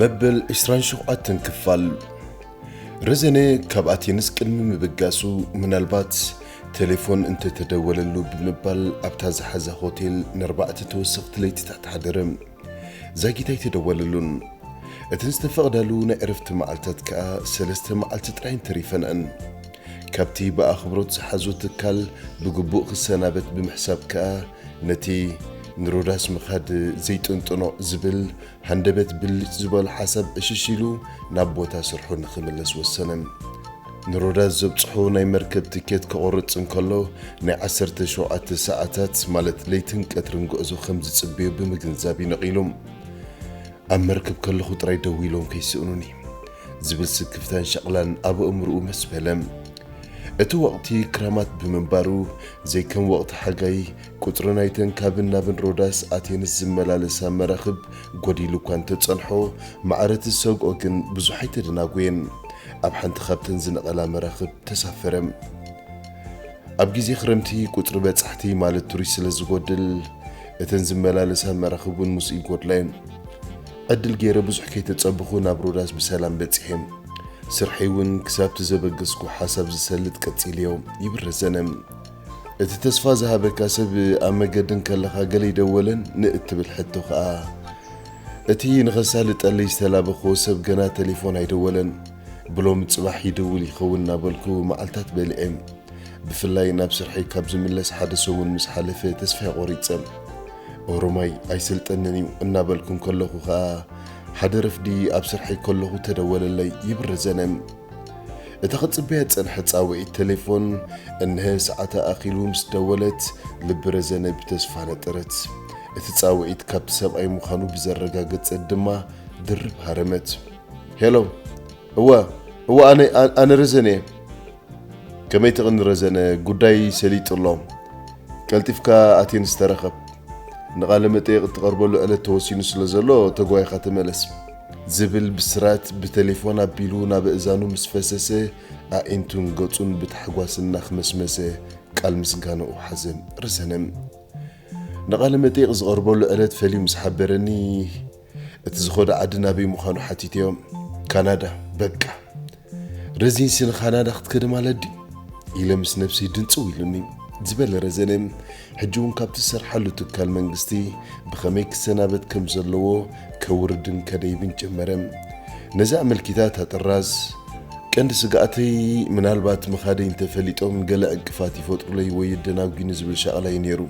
መበል 27 ክፋል ረዘነ ካብ ኣቴንስ ቅድሚ ምብጋሱ ምናልባት ቴሌፎን እንተተደወለሉ ብምባል ኣብታ ዝሓዛ ሆቴል ንኣርባዕተ ተወሰኽቲ ለይትታት ሓደረ ዛጊት ኣይተደወለሉን እተን ዝተፈቕዳሉ ናይ ዕረፍቲ መዓልታት ከኣ ሰለስተ መዓልቲ ጥራይን ተሪፈንዐን ካብቲ ብኣኽብሮት ዝሓዞ ትካል ብግቡእ ክሰናበት ብምሕሳብ ከኣ ነቲ ንሮዳስ ምኻድ ዘይጥንጥኖ ዝብል ሃንደበት ብልጭ ዝበሎ ሓሳብ ዕሽሽ ኢሉ ናብ ቦታ ስርሑ ንኽምለስ ወሰነ። ንሮዳስ ዘብጽሖ ናይ መርከብ ትኬት ከቑርጽ እንከሎ ናይ ዓሰርተ ሸውዓተ ሰዓታት ማለት ለይትን ቀትርን ጉዕዞ ከም ዝጽበዮ ብምግንዛብ እዩ ነቒሉ። ኣብ መርከብ ከለኹ ጥራይ ደዊሎም ከይስእኑኒ። ዝብል ስክፍታን ሻቕላን ኣብ ኣእምርኡ መስ በለ። እቲ ወቕቲ ክራማት ብምንባሩ ዘይከም ወቕቲ ሓጋይ ቁጽሪ ናይተን ካብን ናብን ሮዳስ ኣቴንስ ዝመላለሳ መራኽብ ጎዲሉ እኳ እንተጸንሖ ማዕረ እቲ ዝሰግኦ ግን ብዙሕ ኣይተደናጎየን። ኣብ ሓንቲ ካብተን ዝነቐላ መራኽብ ተሳፈረ። ኣብ ግዜ ክረምቲ ቁጽሪ በጻሕቲ ማለት ቱሪስት ስለ ዝጎድል እተን ዝመላለሳ መራኽብ እውን ምስኡ ይጎድላ እየን። ዕድል ገይረ ብዙሕ ከይተጸበኹ ናብ ሮዳስ ብሰላም በጺሐ። ስርሐይ እውን ክሳብ'ቲ ዘበገስኩዎ ሓሳብ ዝሰልጥ ቀጺለዮ ይብል ረዘነ። እቲ ተስፋ ዝሃበካ ሰብ ኣብ መገዲ እንከለኻ ገለ ይደወለን ንእትብል ሕቶ ከኣ እቲ ንኸሳልጠለይ ዝተላበኹዎ ሰብ ገና ተሌፎን ኣይደወለን። ብሎሚ ጽባሕ ይድውል ይኸውን እናበልኩ መዓልታት በሊዐ። ብፍላይ ናብ ስርሐይ ካብ ዝምለስ ሓደ ሰሙን ምስ ሓለፈ ተስፋይ ቖሪጸ። ኦሮማይ ኣይስልጠንን እዩ እናበልኩ ከለኹ ከኣ ሓደ ረፍዲ ኣብ ስርሐይ ከለኹ ተደወለለይ ይብል ዘነም። እታ ክጽበያ ዝጸንሐት ጻውዒት ተሌፎን እንሀ ሰዓታ ኣኺሉ ምስ ደወለት ልቢ ረዘነ ብተስፋ ነጠረት። እቲ ጻውዒት ካብቲ ሰብኣይ ምዃኑ ብዘረጋገጸት ድማ ድርብ ሃረመት። ሄሎ እወ እወ ኣነ ኣነ ረዘነ እየ። ከመይ ትቕኒ ረዘነ ጉዳይ ሰሊጡ ኣሎ ቀልጢፍካ ኣቴንስ ተረኸብ ንቓለ መጠየቕ እትቐርበሉ ዕለት ተወሲኑ ስለ ዘሎ ተጓይኻ ተመለስ ዝብል ብስራት ብተሌፎን ኣቢሉ ናብ ኣእዛኑ ምስ ፈሰሰ ኣዒንቱን ገጹን ብታሕጓስ እናኽመስመሰ ቃል ምስጋናኡ ሓዘ ረዘነ ንቓለ መጠየቕ ዝቐርበሉ ዕለት ፈልዩ ምስ ሓበረኒ እቲ ዝኸዶ ዓዲ ናበይ ምዃኑ ሓቲተዮም፣ ካናዳ፣ በቃ ረዚንሲ ንካናዳ ክትከደ ማለት ድዩ? ኢለ ምስ ነብሰይ ድንጽው ኢሉኒ። ዝበለ ረዘነ ሕጂ እውን ካብቲ ዝሰርሓሉ ትካል መንግስቲ ብኸመይ ክሰናበት ከም ዘለዎ ከውርድን ከደይብን ጀመረ። ነዚ ኣመልኪታ እታ ጥራዝ፣ ቀንዲ ስግኣተይ ምናልባት ምኻደይ እንተፈሊጦም ገለ ዕንቅፋት ይፈጥሩለይ ወይ የደናጒኒ ዝብል ሻቕላ እዩ ነይሩ።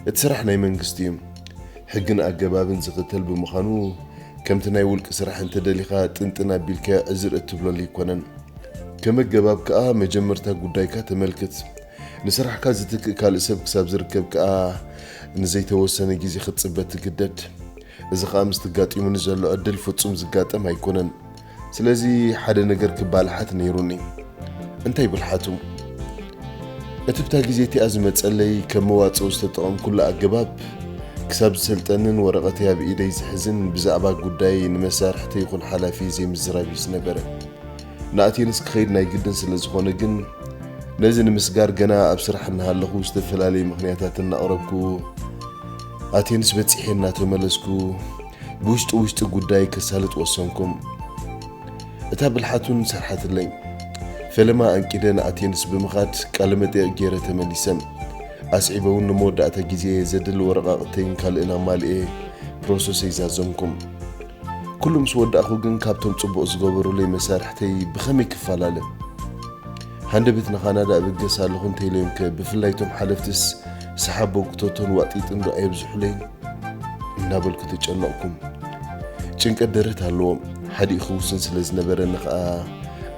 እቲ ስራሕ ናይ መንግስቲ እዩ። ሕግን ኣገባብን ዝኽተል ብምዃኑ ከምቲ ናይ ውልቂ ስራሕ እንተደሊኻ ጥንጥን ኣቢልካ ዕዝር እትብለሉ ኣይኮነን። ከም ኣገባብ ከኣ መጀመርታ ጉዳይካ ተመልክት። ንስራሕካ ዝትክእ ካልእ ሰብ ክሳብ ዝርከብ ከኣ ንዘይተወሰነ ግዜ ክትጽበ ትግደድ። እዚ ከኣ ምስቲ ኣጋጢሙኒ ዘሎ ዕድል ፍጹም ዝጋጠም ኣይኮነን። ስለዚ ሓደ ነገር ክባልሓት ነይሩኒ። እንታይ ብልሓቱ? እቲ ብታ ግዜ እቲኣ ዝመጸለይ ከም መዋጽኦ ዝተጠቐምኩሉ ኣገባብ ክሳብ ዝሰልጠንን ወረቐተይ ኣብ ኢደይ ዝሕዝን ብዛዕባ ጉዳየይ ንመሳርሕተይ ይኹን ሓላፊ ዘይምዝራብ እዩ ዝነበረ። ንኣቴንስ ክኸይድ ናይ ግድን ስለ ዝኾነ ግን ነዚ ንምስጋር ገና ኣብ ስራሕ እናሃለኹ ዝተፈላለዩ ምክንያታት እናቕረብኩ ኣቴንስ በጺሐ እናተመለስኩ ብውሽጢ ውሽጢ ጉዳይ ከሳልጥ ወሰንኩም። እታ ብልሓቱን ሰርሓትለይ ፈለማ ኣንቂደን ኣቴንስ ብምኻድ ቃለ መጠየቕ ገይረ ተመሊሰ። ኣስዒበ እውን ንመወዳእታ ግዜ ዘድሊ ወረቓቕተይን ካልእን ኣማልኤ ፕሮሰሰይ ዛዘምኩም። ኩሉ ምስ ወዳእኹ ግን ካብቶም ጽቡቕ ዝገበሩለይ መሳርሕተይ ብኸመይ ክፈላለ? ሃንደበት ንካናዳ እብገስ ኣለኹ እንተኢለዮም ከ ብፍላይ እቶም ሓለፍትስ ሰሓብ ቦንኩቶቶን ዋጢጥን ዶ ኣየብዝሑለይን እናበልኩ ተጨነቕኩም ጭንቀት ደረት ኣለዎም ሓዲኡ ክውስን ስለ ዝነበረኒ ከዓ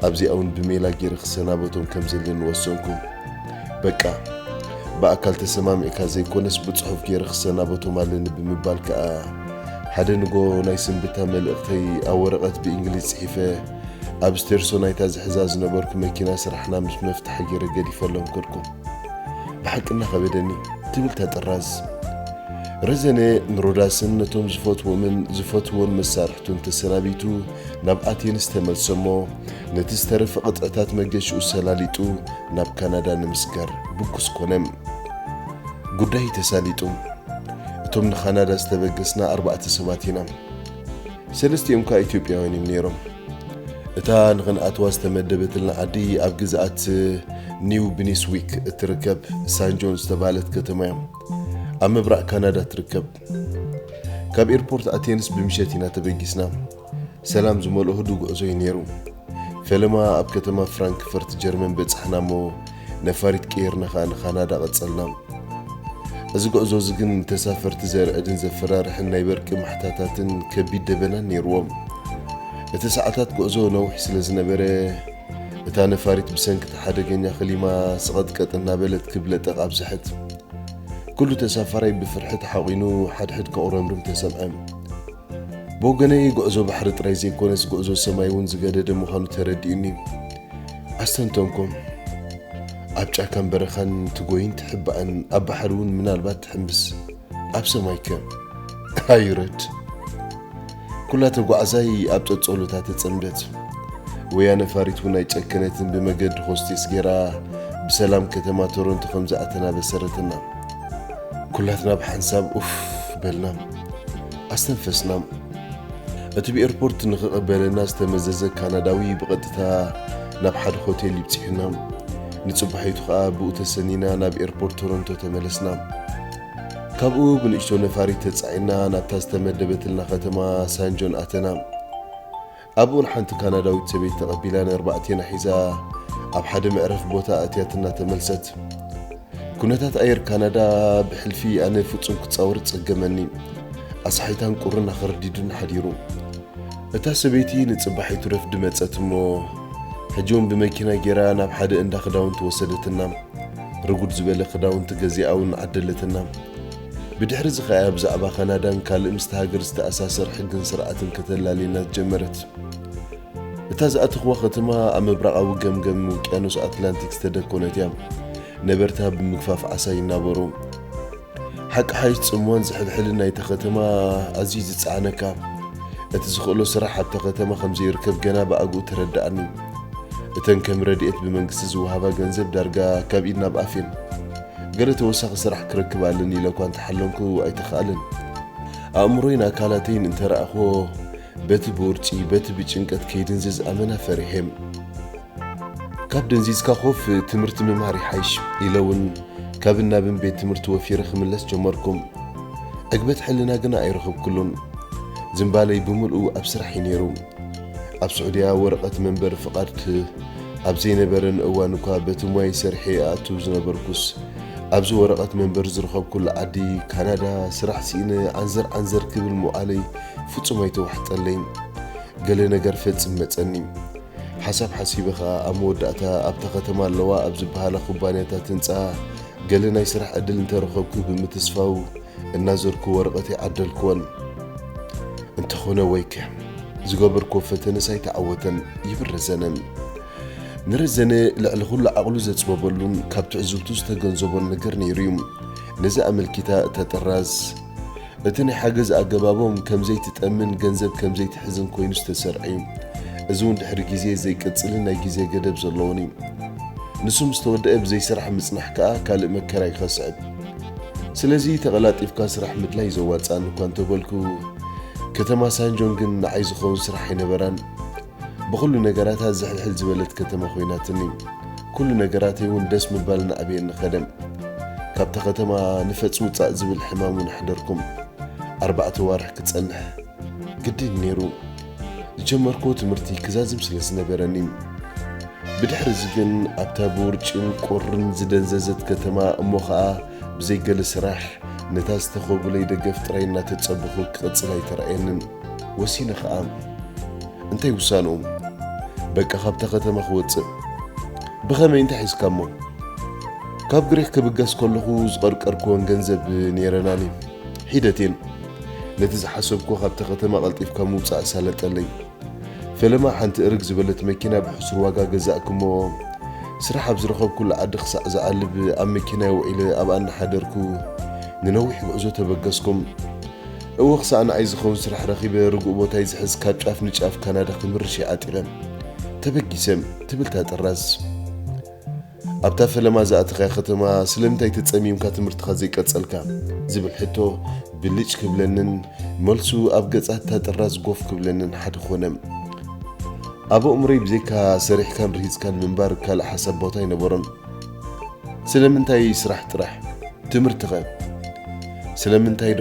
ኣብዚኣውን ብሜላ ገይረ ክሰናበቶም ከም ዘለኒ ወሰንኩ በቃ ብኣካል ተሰማሚዕካ ዘይኮነስ ብፅሑፍ ገይረ ክሰናበቶም ኣለኒ ብምባል ከዓ ሓደ ንጎ ናይ ስንብታ መልእኽተይ ኣብ ወረቐት ብእንግሊዝ ፅሒፈ ኣብ ስቴርሶ ናይታ ዝሕዛ ዝነበርኩ መኪና ስራሕና ምስ መፍትሐ ገይረ ገዲፈሎም ከድኩ። ብሓቂ እናኸበደኒ ትብልታ ጥራዝ። ረዘነ ንሮዳስን ነቶም ዝፈትዎምን ዝፈትዎን መሳርሕቱን ተሰናቢቱ ናብ ኣቴንስ ተመልሰ እሞ ነቲ ዝተረፈ ቅጥዕታት መገሽኡ ሰላሊጡ ናብ ካናዳ ንምስጋር ብኩስ ኮነ። ጉዳይ ተሳሊጡ። እቶም ንካናዳ ዝተበገስና ኣርባዕተ ሰባት ኢና። ሰለስቲኦም ከኣ ኢትዮጵያውያን እዮም ነይሮም። እታ ንኽንኣትዋ ዝተመደበትልና ዓዲ ኣብ ግዝኣት ኒው ብኒስዊክ እትርከብ ሳንጆን ዝተባህለት ከተማ እያ። ኣብ ምብራቕ ካናዳ ትርከብ። ካብ ኤርፖርት ኣቴንስ ብምሸት ኢና ተበጊስና። ሰላም ዝመልኦ ህዱ ጉዕዞ እዩ ነይሩ። ፈለማ ኣብ ከተማ ፍራንክፈርት ጀርመን በጻሕና እሞ ነፋሪት ቀይርና ከኣ ንካናዳ ቀጸልና። እዚ ጉዕዞ እዚ ግን ንተሳፈርቲ ዘርዕድን ዘፈራርሕን ናይ በርቂ ማሕታታትን ከቢድ ደበናን ነይርዎ። እቲ ሰዓታት ጉዕዞ ነዊሕ ስለ ዝነበረ እታ ነፋሪት ብሰንኪ እቲ ሓደገኛ ክሊማ ስቐጥቀጥ እናበለት ክብ ለጠቕ ኣብዘሐት። ኩሉ ተሳፋራይ ብፍርሒ ተሓቚኑ ሓድሕድ ከቑረምርም ተሰምዐ። ብወገነይ ጉዕዞ ባሕሪ ጥራይ ዘይኮነስ ጉዕዞ ሰማይ እውን ዝገደደ ምዃኑ ተረዲኡኒ። ኣስተንተንኩም። ኣብ ጫካን በረኻን ትጎይን ትሕባእን ኣብ ባሕሪ እውን ምናልባት ትሕምብስ ኣብ ሰማይ ከ ኣይረድ ኩላ ተጓዕዛይ ኣብ ጸጸሎታ ተጸምደት። ወያነ ፋሪት እውን ኣይጨከነትን ብመገዲ ሆስቴስ ጌራ ብሰላም ከተማ ቶሮንቶ ከም ዝኣተና በሰረትና። ኩላትና ብሓንሳብ ኡፍ በልና። ኣስተንፈስና። እቲ ብኤርፖርት ንኽቐበለና ዝተመዘዘ ካናዳዊ ብቐጥታ ናብ ሓደ ሆቴል ይብፅሑና። ንፅባሒቱ ከዓ ብኡ ተሰኒና ናብ ኤርፖርት ቶሮንቶ ተመለስና። ካብኡ ብንእሽቶ ነፋሪት ተፃዒና ናብታ ዝተመደበትልና ከተማ ሳንጆን ኣተና። ኣብኡውን ሓንቲ ካናዳዊት ሰበይቲ ተቐቢላ ንኣርባዕቴና ሒዛ ኣብ ሓደ መዕረፊ ቦታ ኣእትያትና ተመልሰት። ኩነታት ኣየር ካናዳ ብሕልፊ ኣነ ፍጹም ክጻወር ጸገመኒ። ኣስሓይታን ቁርን ኣኸርዲዱን ሓዲሩ። እታ ሰበይቲ ንጽባሒ ትረፍዲ መጸት እሞ ሕጂውን ብመኪና ጌራ ናብ ሓደ እንዳ ክዳውንቲ ወሰደትና። ርጉድ ዝበለ ክዳውንቲ ገዚኣውን ዓደለትና። ብድሕርዚ ከኣ ብዛዕባ ካናዳን ካልእ ምስታ ሃገር ዝተኣሳሰር ሕግን ስርዓትን ከተላልየና ዝጀመረት። እታ ዝኣተኽዋ ከተማ ኣብ ምብራቓዊ ገምገም ውቅያኖስ ኣትላንቲክ ዝተደኮነት እያ። ነበርታ ብምግፋፍ ዓሳ ይናበሩ። ሓቂ ሓይሽ ጽምዋን ዝሕልሕልን ናይታ ከተማ ኣዝዩ ዝጸዓነካ። እቲ ዝኽእሎ ስራሕ ኣብታ ከተማ ከም ዘይርከብ ገና ብኣግኡ ተረድኣኒ። እተን ከም ረድኤት ብመንግስቲ ዝወሃባ ገንዘብ ዳርጋ ካብ ኢድ ናብ ኣፍ እየን። ገለ ተወሳኺ ስራሕ ክረክብ ኣለኒ ኢለ እኳ እንተሓለንኩ ኣይተኻእለን። ኣእምሮይን ኣካላተይን እንተረኣኹዎ በቲ ብውርጪ በቲ ብጭንቀት ከይድንዝዝ ኣመና ፈሪሔም ካብ ደንዚዝካ ኮፍ ትምህርቲ ምምሃር ይሓይሽ ኢለ እውን ካብን ናብን ቤት ትምህርቲ ወፊረ ክምለስ ጀመርኩም። ዕግበት ሕልና ግና ኣይረኽብኩሉን። ዝምባለይ ብምልኡ ኣብ ስራሕ እዩ ነይሩ። ኣብ ስዑድያ ወረቐት መንበሪ ፍቓድ ኣብ ዘይነበረን እዋን እኳ በቲ ሞይ ሰርሒ እኣቱ ዝነበርኩስ ኣብዚ ወረቐት መንበሪ ዝረኸብኩሉ ዓዲ ካናዳ ስራሕ ስኢነ ዓንዘር ዓንዘር ክብል ምውዓለይ ፍጹም ኣይተዋሕጠለይን። ገለ ነገር ፈጽም መጸኒ። ሓሳብ ሓሲበ ኸኣ ኣብ መወዳእታ ኣብታ ከተማ ኣለዋ ኣብ ዝበሃላ ኩባንያታት ህንጻ ገለ ናይ ስራሕ ዕድል እንተረኸብኩ ብምትስፋው እናዞርኩ ወረቐት ይዓደልክወን። እንተኾነ ወይከ! ዝገበርክዎ ፈተነስ ኣይተዓወተን፣ ይብል ረዘነ። ንረዘነ ልዕሊ ኹሉ ዓቕሉ ዘጽበበሉን ካብ ትዕዝብቱ ዝተገንዘቦን ነገር ነይሩ'ዩ። ነዚ ኣመልኪታ እታ ጥራዝ፣ እቲ ናይ ሓገዝ ኣገባቦም ከም ዘይትጠምን ገንዘብ ከም ዘይትሕዝን ኮይኑ ዝተሰርዐ'ዩ። እዚ'ውን ድሕሪ ግዜ ዘይቅጽልን ናይ ግዜ ገደብ ዘለዎን'ዩ። ንሱ ምስ ተወደኣ ብዘይስራሕ ምጽናሕ ከኣ ካልእ መከራ ይኸስዕብ። ስለዚ ተቐላጢፍካ ስራሕ ምድላይ ዘዋጽኣኒ እኳ እንተበልኩ፣ ከተማ ሳንጆን ግን ንዓይ ዝኸውን ስራሕ ኣይነበራን። ብኹሉ ነገራታ ዝሕልሕል ዝበለት ከተማ ኮይናትኒ። ኩሉ ነገራተይ እውን ደስ ምባል እናዕበየኒ ከደ። ካብታ ከተማ ንፈጽ ውጻእ ዝብል ሕማም እውን ኣሕደርኩም። ኣርባዕተ ኣዋርሕ ክጸንሕ ግድን ነይሩ። ዝጀመርክዎ ትምህርቲ ክዛዝም ስለ ዝነበረኒ ብድሕሪ እዚ ግን ኣብታ ብውርጭን ቁርን ዝደንዘዘት ከተማ እሞ ኸኣ ብዘይ ገለ ስራሕ ነታ ዝተኸቡለይ ደገፍ ጥራይ እናተጸበኹ ክቕጽል ኣይተረኣየንን። ወሲነ ኸኣ። እንታይ ውሳንኡ? በቃ ካብታ ከተማ ክወጽእ። ብኸመይ እንታይ ሒዝካ እሞ? ካብ ግሪኽ ክብገስ ከለኹ ዝቐርቀርክወን ገንዘብ ነይረናኒ። ሒደቴን ነቲ ዝሓሰብኩዎ ካብታ ከተማ ቀልጢፍካ ምውጻእ ኣሳለጠለይ። ፈለማ ሓንቲ እርግ ዝበለት መኪና ብሕሱር ዋጋ ገዛእኩ እሞ ስራሕ ኣብ ዝረኸብኩላ ዓዲ ክሳዕ ዝዓልብ ኣብ መኪናይ ውዒለ ኣብኣ እናሓደርኩ ንነዊሕ ጉዕዞ ተበገስኩ። እወ ክሳዕ ንዓይ ዝኸውን ስራሕ ረኺበ ርጉእ ቦታይ ዝሕዝ ካብ ጫፍ ንጫፍ ካናዳ ክምርሽ እየ ዓጢረ። ተበጊሰ። ትብል እታ ጥራዝ። ኣብታ ፈለማ ዝኣተኻያ ከተማ ስለምንታይ ተጸሚምካ ትምህርትኻ ዘይቀጸልካ? ዝብል ሕቶ ብልጭ ክብለንን መልሱ ኣብ ገጻት እታ ጥራዝ ጎፍ ክብለንን ሓደ ኮነ። ኣብ ኣእምሮይ ብዘይካ ሰሪሕካን ርሂጽካን ምንባር ካልእ ሓሳብ ቦታ ኣይነበሮን። ስለምንታይ ስራሕ ጥራሕ? ትምህርቲኸ? ስለምንታይዶ?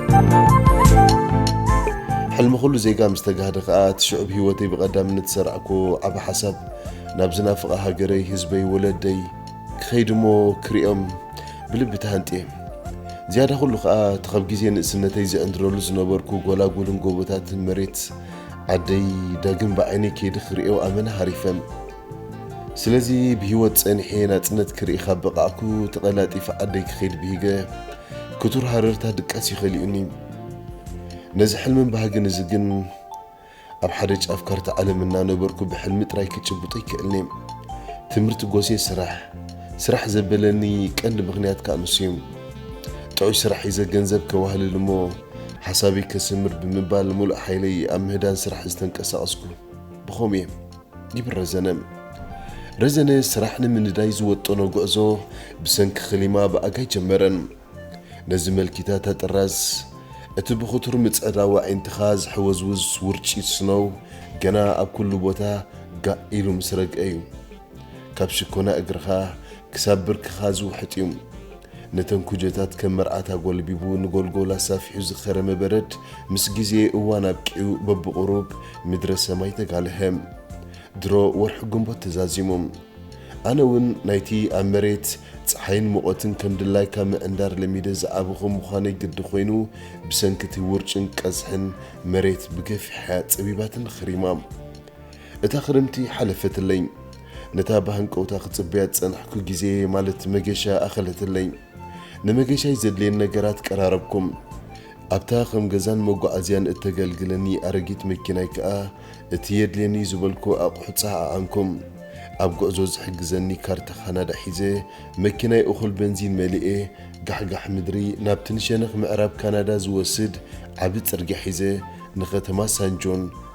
ሕልሚ ኩሉ ዜጋ ምስ ተጋህደ ከኣ እቲ ሽዑብ ህይወተይ ብቐዳምነት ዝሰርዕክዎ ዓቢ ሓሳብ ናብ ዝናፍቓ ሃገረይ፣ ህዝበይ፣ ወለደይ ክኸይድ እሞ ክሪኦም ብልቢ ተሃንጥየ። ዝያዳ ኩሉ ከኣ እቲ ካብ ግዜ ንእስነተይ ዝዕንድረሉ ዝነበርኩ ጎላጉልን ጎቦታትን መሬት ዓደይ ዳግም ብዓይነይ ከይዲ ክሪኦ ኣመና ሃሪፈ። ስለዚ ብሂወት ጸኒሐ ናጽነት ክርኢ ካብ በቓዕኩ ተቐላጢፈ ዓደይ ክኸይድ ብሂገ። ክቱር ሃረርታ ድቃስ እዩ ከሊኡኒ። ነዚ ሕልምን ባህግን እዚ ግን ኣብ ሓደ ጫፍ ካርታ ዓለም እናነበርኩ ብሕልሚ ጥራይ ክጭብጦ ኣይክእልን'የ። ትምህርቲ ጎሴ ስራሕ ስራሕ ዘበለኒ ቀንዲ ምኽንያት ከኣ ንሱ እዩ። ጥዑይ ስራሕ ሒዘ ገንዘብ ከዋህልል እሞ ሓሳበይ ከስምር ብምባል ምሉእ ሓይለይ ኣብ ምህዳን ስራሕ ዝተንቀሳቐስኩ ብኸምኡ እየ። ይብል ረዘነ። ረዘነ ስራሕ ንምንዳይ ዝወጠኖ ጉዕዞ ብሰንኪ ክሊማ ብኣጋይ ጀመረ። ነዚ መልኪታት ኣጥራዝ፣ እቲ ብኽቱር ምጽዕዳው ኣዒንትኻ ዝሕወዝውዝ ውርጪት ስኖው ገና ኣብ ኩሉ ቦታ ጋእ ኢሉ ምስ ረግኤ'ዩ። ካብ ሽኮና እግርኻ ክሳብ ብርክኻ ዝውሕጥ እዩ። ነተን ኩጀታት ከም መርዓት ኣጎልቢቡ ንጎልጎል ኣሳፊሑ ዝኸረመ በረድ ምስ ግዜ እዋን ኣብቂዑ በብቑሩብ ምድረ ሰማይ ተጋልሀ። ድሮ ወርሒ ግንቦት ተዛዚሙ። ኣነ እውን ናይቲ ኣብ መሬት ጸሓይን ሙቐትን ከም ድላይካ ምዕንዳር ለሚደ ዝዓበኹ ምዃነይ ግዲ ኮይኑ ብሰንኪ እቲ ውርጭን ቀዝሕን መሬት ብገፊሓ'ያ ጸቢባትኒ ከሪማ። እታ ክረምቲ ሓለፈትለይ። ነታ ብሃንቀውታ ክጽበያ ዝጸናሕኩ ግዜየይ ማለት መገሻ ኣኸለትለይ። ንመገሻይ ዘድልየኒ ነገራት ቀራረብኩም። ኣብታ ከም ገዛን መጓዓዝያን እተገልግለኒ ኣረጊት መኪናይ ከኣ እቲ የድልየኒ'ዩ ዝበልኩ ኣቑሑት ጸዓዓንኩም። ኣብ ጉዕዞ ዝሕግዘኒ ካርታ ካናዳ ሒዘ፣ መኪናይ እኹል በንዚን መሊኤ፣ ጋሕጋሕ ምድሪ ናብቲ ንሸነኽ ምዕራብ ካናዳ ዝወስድ ዓቢ ጽርግያ ሒዘ ንከተማ ሳን ጆን፣